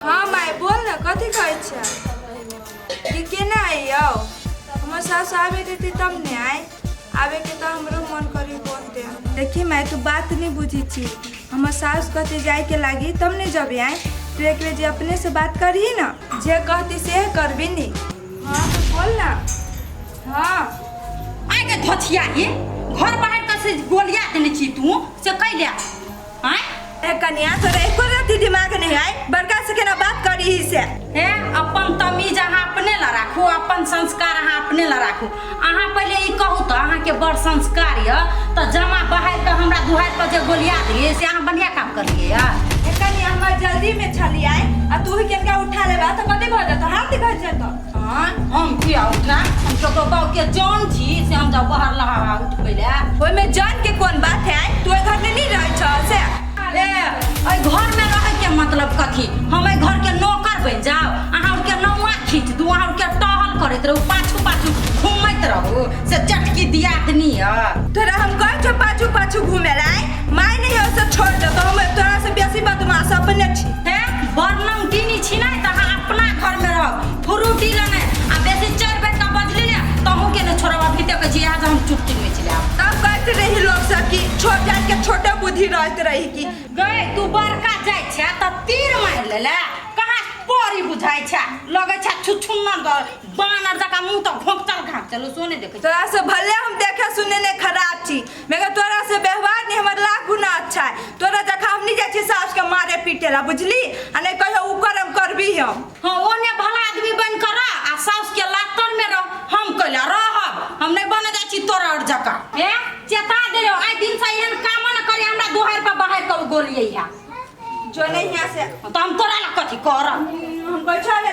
हाँ माय बोल न कथी कहै छै कि केना अइयौ हमर सास आबे देतै तब ने आय आबे के तऽ हमरो मन करी बोल दे देखी माय तू बात नहीं बुझी छी हमर सास कहते जाय के लागी तब ने जबे आय तू एक बेर जे अपने से बात करी न जे कहती से करबी नी हाँ तो बोल ना हाँ आइ के धोछिया ही घर बाहर कसे गोलिया देने छी तू से कैले आय ए कन्या तोरे एको रति दिमाग नहीं आय बड़का से केना बात करी ही से ए अपन तमीज अहाँ अपने ला राखू अपन संस्कार अहाँ अपने ला राखू अहाँ पहिले ई कहू तऽ अहाँके बड़ संस्कार यऽ तऽ जमा बहारि कऽ हमरा दुहारि पर जे गोलिया दिए से अहाँ बढ़िया काम करलिए यऽ ए कन्या हमरा जल्दी में छली आय आ तू ही केनका उठा लेबा तो कथी भऽ जतो हाथ दिखा जतो आँय हम किया उठा हम ककरो गाँव के जान छी से हम जाउ बाहर लहा उठबै ले ओहिमे जान के कोन बात है तू एहि घर में नहीं रहै छ से ए एहि घर में रहै के मतलब कथी हम एहि घर के नौकर बनि जाउ अहाँ उनके नौआ खींच दू अहाँ उनके टहल करैत रहू पाछू पाछू घूमैत रहू से चटकी दियात नियर तोरा हम कहै छौ पाछू पाछू घूमे ला माय नहीं हो से छोड़ दे तो हम तोरा से बेसी बदमाश अपने छी हैं बर्नम दिनी छी ना त अहाँ अपना घर में रह फ्रूटी लने आ बेसी चढ़ बैठ के बजली ना त हम के न छोड़ब अभी तक जी आज हम चुटकी में चले आब तब कहते रही लोग सब कि छोट जात के छोटे बुद्धि रहते रही कि गए तू बड़का जाय छ त तीर मार ले ले कहाँ परी बुझाय छ लगे छ छुछुन्ना द बानर जका मुंह त घोंकचल घांकचल सोने देखे छ। तोरा से भले हम देखे सुने ने खराब छी मगर तोरा से व्यवहार नहीं हमारे लाख गुना अच्छा है तोरा जखा हम नहीं जाए सास के मारे पीटे ला बुझली आ नहीं कहो उ करम करबी हम हाँ वो ने भला आदमी बन कर रह आ सास के लातर में रह हम कहला रह हम नहीं बने जाए छी तोरा और जका ए चेता दे लो आई दिन से एहन काम न करे हमरा दोहर पर बाहर कर गोलिए या जो नहीं यहाँ से तो हम तोरा ला कथी करब हम बैठा ले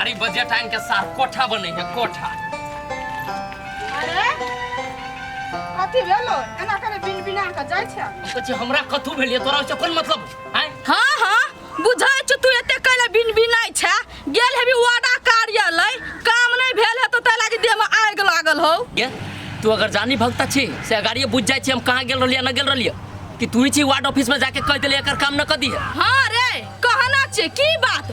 अरे बजट आइन के साथ कोठा बने है कोठा अरे कथी भेलो एना करे बिन बिना के जाइ छै सोचे हमरा कथू भेलिए तोरा ओसे कोन मतलब हैं हाँ हाँ बुझै छु तू एते कैले बिन बिनाइ छै गेल हेबी वादा कार्यालय काम नहीं भेल हेतो तै लागी देह में आग लागल हो ये तू अगर जानी भगता छी से अगाड़िए बुझ जाइ छी हम कहाँ गेल रहलिए न गेल रहलिए कि तू ही छी वार्ड ऑफिस में जाके कह देलिए एकर काम न कर दिए हाँ रे कहना छै की बात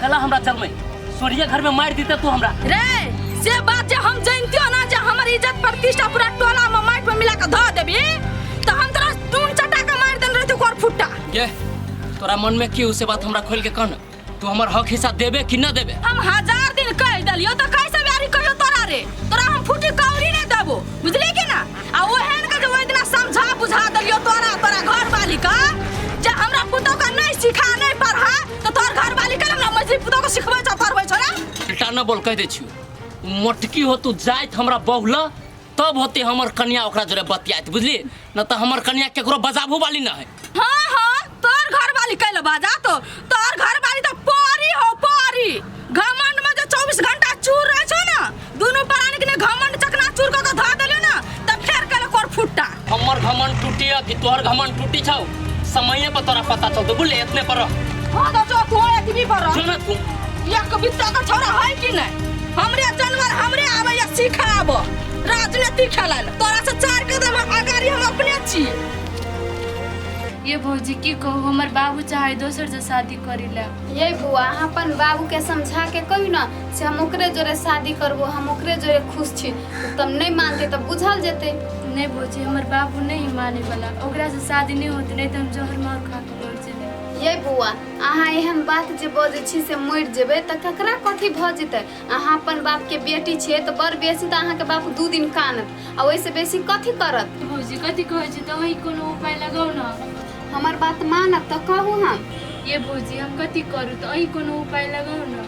कला हमरा चलमे सोनिया घर में मार देते तू हमरा रे से बात जे हम जानतियो ना जे हमर इज्जत प्रतिष्ठा पूरा टोला में माइट में मिला के धो देबी तो हम तोरा टून चटा के मार देन रहते कोर फुट्टा ये तोरा मन में की उसे बात हमरा खोल के कहना तू हमर हक हिस्सा देबे कि ना देबे हम हजार दिन कह दलियो तो कैसे ब्यारी कहियो तोरा रे तोरा हम फुटी कौड़ी नहीं देबो बुझली के ना आ ओहन के जो इतना समझा बुझा दलियो तोरा तोरा घर वाली का जे हमरा पुतो का नहीं सिखा नहीं पढ़ा तो तोर घर वाली के ना मछली पुतो को सिखबै छ पढ़बै छ ना बेटा न बोल कह दे छी मोटकी हो तू जाइत हमरा बहुल तब होते हमर कन्या ओकरा जोरे बतियात बुझली न त हमर कन्या केकरो बजाबू वाली न है हां हां तोर घर वाली कैले बाजा तो तोर घर वाली तो पारी हो पारी घमंड में जो 24 घंटा चूर रह छ ना दुनू प्राणी के ने घमंड चकना चूर क के ध देले ना त फेर कल कोर फुट्टा हमर घमंड टूटी है कि तोहर घमंड टूटी छौ समय पर तोरा पता चलतो बुले इतने पर रह। हां तो जो तू एक भी पर जो ना तू या कभी तो का छोरा है कि नहीं हमरे जानवर हमरे आवे या सिखाब राजनीति खेलन तोरा से चार कदम अगाड़ी हम अपने छी ये भौजी की कहू हमर बाबू चाहे दोसर से शादी करी ला ये बुआ अपन बाबू के समझा के कही ना से हम ओकरे जोरे शादी करबो हम ओकरे जोरे खुश छी तऽ तब नहि मानते तऽ बुझल जेतै नहीं बोझी हमर बाबू नहीं माने वाला ओकरा से शादी नहीं होते नहीं तो हम जहर मार खा के मर जेबे ये बौआ अहाँ एहन बात जे बजै छी से मरि जेबै तऽ ककरा कथी भऽ जेतै अहाँ अपन बापके बेटी छियै तऽ बड़ बेसी तऽ अहाँके बाप दू दिन कानत आ ओहिसँ बेसी कथी करत भौजी कथी कहै छी दवाई कोनो उपाय लगाउ ना हमर बात मानब तऽ कहू हम ये भौजी हम कथी करू तऽ अहीं कोनो उपाय लगाउ ने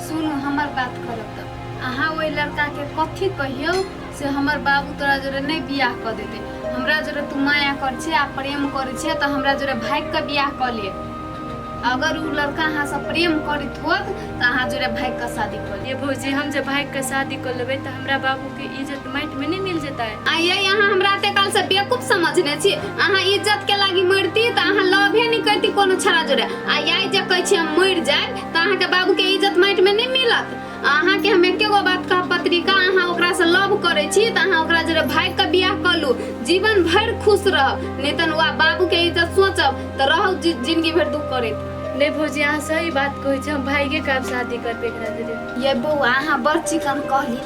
सुनू हमर बात करब तऽ अहाँ ओहि लड़काके कथी कहियौ से हमर बाबू तोरा जोरे नहि बियाह कऽ देतै हमरा जोरे तू माया करै छै आ प्रेम करै छै तऽ हमरा जोरे भागि कऽ बियाह कऽ ले अगर उ लड़का अहाँ से प्रेम करित होत त अहाँ जोरे भाई के शादी कर लेब। ये भौजी हम जब भाई के शादी कर लेबै तऽ हमरा बाबू के इज्जत माटि में नहि मिल जेतै आ ये अहाँ हमरा ते काल से बेवकूफ समझने छी अहाँ इज्जत के लागी मरती त अहाँ लभे नहि करती कोनो छड़ा जोरे आ ये जे कहै छी हम मर जाएब त अहाँ के बाबू के इज्जत माटि में नहि मिलत अहाँ के हम एके गो बात कहब पत्रिका अहाँ ओकरा से लव करे छी त अहाँ ओकरा जरे भाग के बियाह कर लू जीवन भर खुश रहब नहीं तन वा बाबू के इज्जत सोचब त रहब जि- जिंदगी भर दुख करत नहीं भौजी अहाँ सही बात कहै छी हम भाइगे के आब शादी करबै एकरा जरे ये बौआ अहाँ बड़ चिकन कहली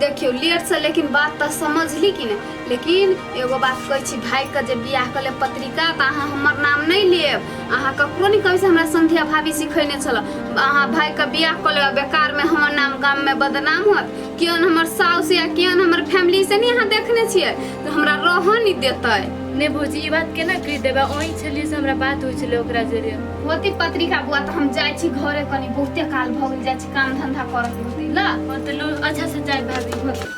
देखियो लेट से लेकिन बात तो समझली कि नहीं लेकिन एगो बात कहै छी भाई के जे बियाह कले पत्रिका त अहाँ हमर नाम नहीं लेब अहाँ ककरो नहि कहै से हमरा संध्या भाभी सिखेने छल अहाँ भाइके बियाह कऽ लेब बेकारमे हमर नाम गाममे बदनाम होत केहन हमर साउस या केहन हमर फैमिली से नहि अहाँ देखने छियै तऽ हमरा रहऽ नहि देतै नहि भौजी ई बात केना कहि देबै ओहि छलियै से हमरा बात होइ छलै ओकरा जरे होती पत्रिका बुआ तऽ हम जाइ छी घरे कनी बहुते काल भऽ गेल जाइ छी काम धंधा करत होती ल मतलब अच्छा से जाए भाभी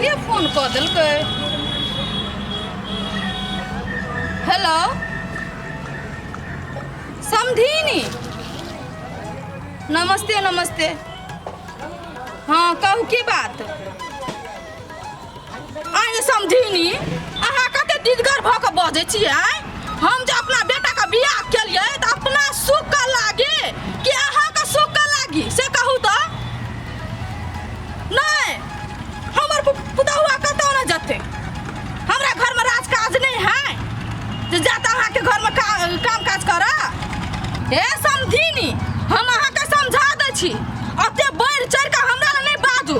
के फोन कऽ देलकै हेलो समधिनी नमस्ते नमस्ते हँ कहू की बात आइ समझिनी अहाँ कते दिदगर भऽ कऽ बजै छियै आँय? हम जे अपना बेटाके बियाह केलिए तऽ अपना सुखके लागी कि अहाँके सुखके लागी से कहू तऽ नहि हमर पु- पुतहुआ कतौ नहि जेतै हमरा घरमे राजकाज नहि है जे जात अहाँके घरमे का, काम काज करऽ हे समझिनी हम अहाँके समझा दै छी ओते बढ़ि चढ़ि कऽ हमरा लए नहि बाजू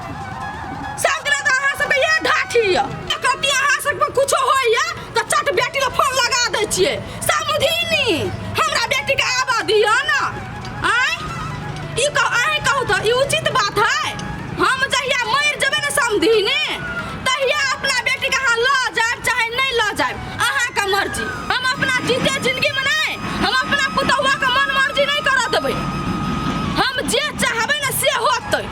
सबके तऽ अहाँ सबके ये ढाठी यऽ कति अहाँ सबके कुछो होइए तऽ चट बेटी के फोन लगा दै छियै समझिनी हमरा बेटी के आबा दिअ ने आँय ई कह अहीं कहू तऽ ई उचित बात है हम जहिया मरि जेबै ने समझिनी तहिया अपना बेटी के अहाँ लऽ जायब चाहे नहि लऽ जायब अहाँके मर्जी हम अपना जीते जिंदगी में नहि हम अपना पुतहुआ के मन मर्जी नहि करऽ देबै हम जे चाहबै ने से होतै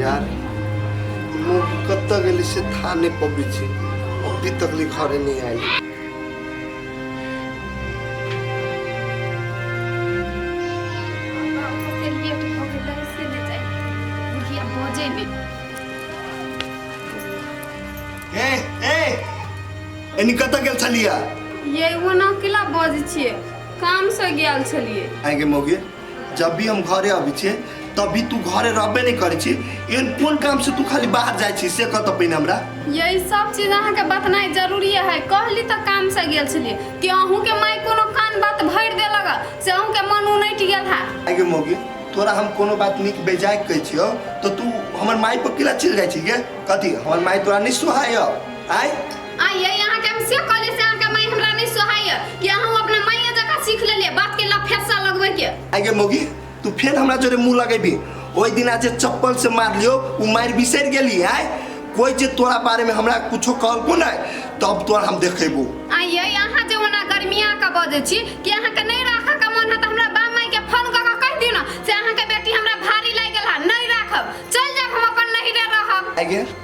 यार मुंह कब तक गेली से था नहीं पबी छी अभी तक ली घरे नहीं आई से लेट हो गेलै से ले जाइ बुढ़िया बजे ने ए ए एनी कत गेल छलिया ये वो ना किला बज छिए काम से गेल छलिए आइ गे मौगी जब भी हम घरे अबै छियै तब भी तू घरे रहबे नहि करै छी एहन कोन काम से तू खाली बाहर जाइ छी से कह तऽ पहिने हमरा यही सब चीज अहाँके बतनाइ जरूरी है कहली तऽ काम से गेल छलिए कि अहूँ के माय कोनो कान बात भरि देलक हँ, से अहूँ के मन उनटि गेल है आइ गे मौगी तोरा हम कोनो बात नीक बेजाय कहै छियौ तऽ तू हमर माय पर किला चलि जाइ छी गे कथी हमर माय तोरा नहि सुहाय आइ आइए यहाँ के हम से कहले से अहाँ के माई हमरा नहीं सोहाय कि अहाँ अपना माई जगह सीख लेले बात के लफेसा लगवे के आगे मोगी तू फिर हमरा जोरे मुंह लगेबी ओई दिन आज चप्पल से मार लियो उ मार बिसर गेली आय कोई जे तोरा बारे में हमरा कुछो कहलको ना तब तोरा हम देखेबो आइए यहाँ जो ओना गर्मिया का बजे छी कि अहाँ के नहीं राखा का मन है तो हमरा बा माई के फोन क के कह दियो ना से अहाँ के बेटी हमरा भारी लाग गेल है नहीं राखब चल जाब हम अपन नहीं रे रहब आगे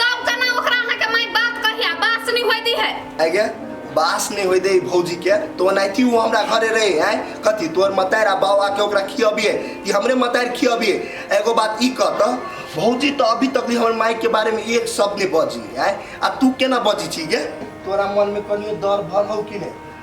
तब कना ओकरा अहाँ के माई बात कहिया बास नहीं होई दी है आगे बास नहीं होई दे भौजी के तो नाइती वो हमरा घरे रहे हैं कथी तोर मतार आ बाबा के ओकरा खियबिए कि हमरे मतार खियबिए एगो बात ई कह त भौजी तो अभी तक हमर माई के बारे में एक शब्द नहीं बजी है आ तू केना बजी छी गे तोरा मन में कनियो डर भर हो कि नहीं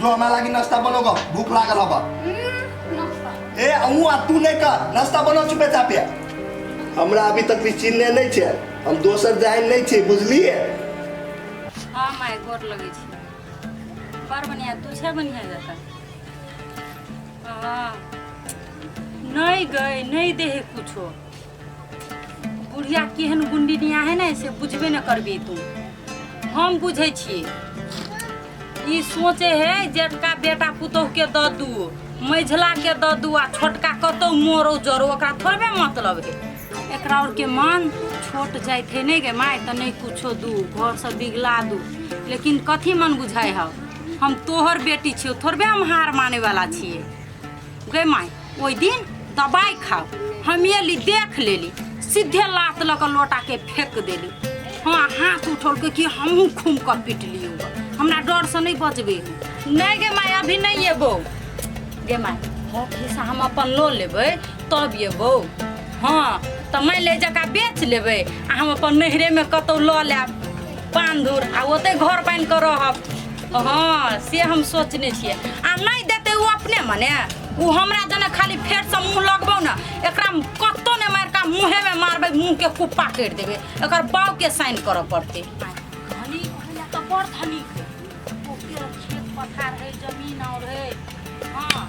जो हमरा लागी नाश्ता बनो ग भूख लागल हबा ए अहूँ आ तू नहीं कर नाश्ता बनो चुपे चापे हमरा अभी तक भी चिन्हने नहीं छे हम दोसर जाए नहीं छे बुझलिए हाँ माय गोर लगे छी पर बढ़िया तू छे बढ़िया जका हाँ नहीं गए नहीं देहे कुछो बुढ़िया केहन गुंडी निया है ने से बुझबे न करबी तू हम बुझै छी ई सोचे है जेठका बेटा पुतोह के दऽ दू मझिला के दऽ दू आ छोटका कतौ मोरो जरो ओकरा थोड़बे मतलब है एकरा और के मन छोट जाइत है नहीं गे माय तऽ नहीं कुछो दू घर से बिगला दू लेकिन कथी मन बुझाय है हम तोहर बेटी छियो थोड़बे हम हार माने वाला छियै गे माय ओहि दिन दबाइ खाओ हम एली देख लेली सीधे लात लऽ कऽ लोटाके फेंक देली हँ हाथ उठौलकै कि हमहूँ खूम कऽ पिटली ओकरा। हमरा डरसँ नहि बचबै नहि गे माय अभी नहि एबौ गे माय हँ खिस्सा हम अपन लऽ लेबै तब एबौ हँ तऽ मानि ले जकरा बेच लेबै आ हम अपन नैहरेमे कतहु लऽ लेब बांधुर आ ओते घर बन के रहब हाँ से हम सोचने छियै आ नहीं देते वो अपने मने वो हमरा जने खाली फेर से मुंह लगबो ना एकरा कत्तो ने मार का मुंहे में मारबे मुंह के कुप्पा कर देबे एकर बाव के साइन करऽ पड़ते धनी कहला तो बड़ धनी ओके खेत पथार है जमीन और है हाँ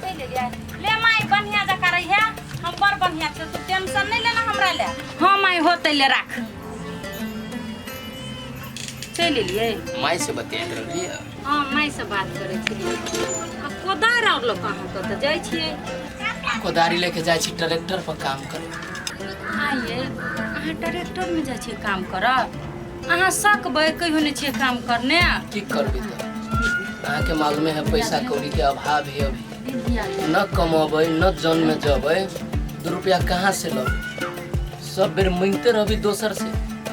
ले ले जाए ले माई बढ़िया जका रही है हम बड़ बढ़िया से तू टेंशन नहीं लेना हमरा ले हाँ माई होते ले राख चलि एलियै माय से बतियात रहली है हँ मायसँ बात करै छलियै आ कोदार आओर लऽ कऽ अहाँ कतऽ जाइ छियै कोदारी लेके जाइ छी ट्रैक्टर पर काम करे आइए अहाँ ट्रैक्टरमे जाइ छियै काम करऽ अहाँ सकबै कहियो नहि छियै काम करने की करबी तो अहाँ के मालूमे है पैसा कौड़ी के अभाव है अभी विद्या न कमबै न जन में जबै दू रुपया कहाँ से लबै सब बेर मांगते रहबी दोसर से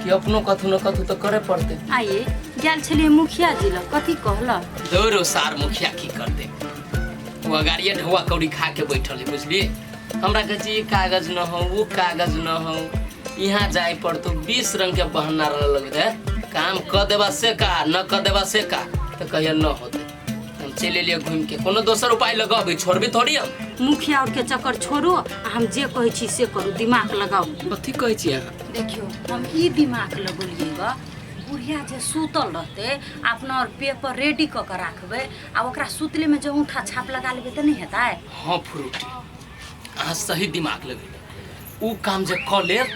कि अपनो कथू न कथू तो करे पड़ते आइए गेल छलिए मुखिया जी लग कथी कहला दौड़ो सार मुखिया की करते वो अगाड़िए ढौआ कौड़ी खा के बैठल है बुझलिए हमरा कहे छी, ई कागज न हो वो कागज न हो यहाँ जाए पड़तो बीस रंग के बहाना रह लग रहे काम क देबा से का न क देबा से का तो कहिया न होते हम चलि एलियै घूमि के कोनो दोसर उपाय लगाबै छोड़बै थोड़ी हम मुखिया और के चक्कर छोड़ो आ हम जे कहै छी से करू दिमाग लगाउ कथी कहै छी अहाँ देखियो हम ई दिमाग लगौलियै ग बुढ़िया जे सुतल रहतै अपना और पेपर रेडी कऽ के राखबै आ ओकरा सुतले में जे औंठा छाप लगा लेबै तऽ नहि हेतै हाँ फ्रूटी अहाँ सही दिमाग लगेली ऊ काम जे कऽ लेब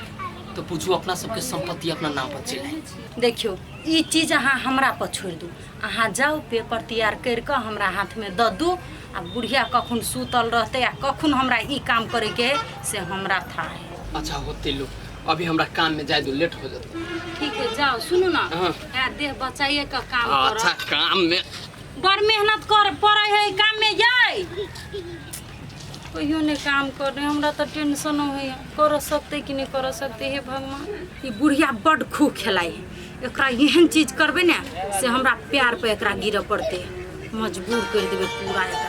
तऽ पूछू अपना सबके संपत्ति अपना नाम पर चलि आयत देखियो ई चीज अहाँ हमरा पर छोड़ि दू अहाँ जाउ पेपर तैयार करि कऽ हमरा हाथमे दऽ दू आ बुढ़िया कखन सुतल रहतै आ कखन हमरा ई काम करैके है से हमरा था है अच्छा होते लो अभी हमरा काम में जाए दो लेट हो जाता ठीक है जाओ सुनू ना हाँ। है देह बचाइए का काम अच्छा करो काम में बड़ मेहनत कर पड़े है काम में जाए कहियो ने काम कर रहे हमरा तो टेंशन हो है कर सकते कि नहीं कर सकते हे भगवान ई बुढ़िया बड खूब खेलाए है एकरा एहन चीज करबै ने से हमरा पैर पर एकरा गिरऽ पड़तै मजबूर करि देबै पूरा एकरा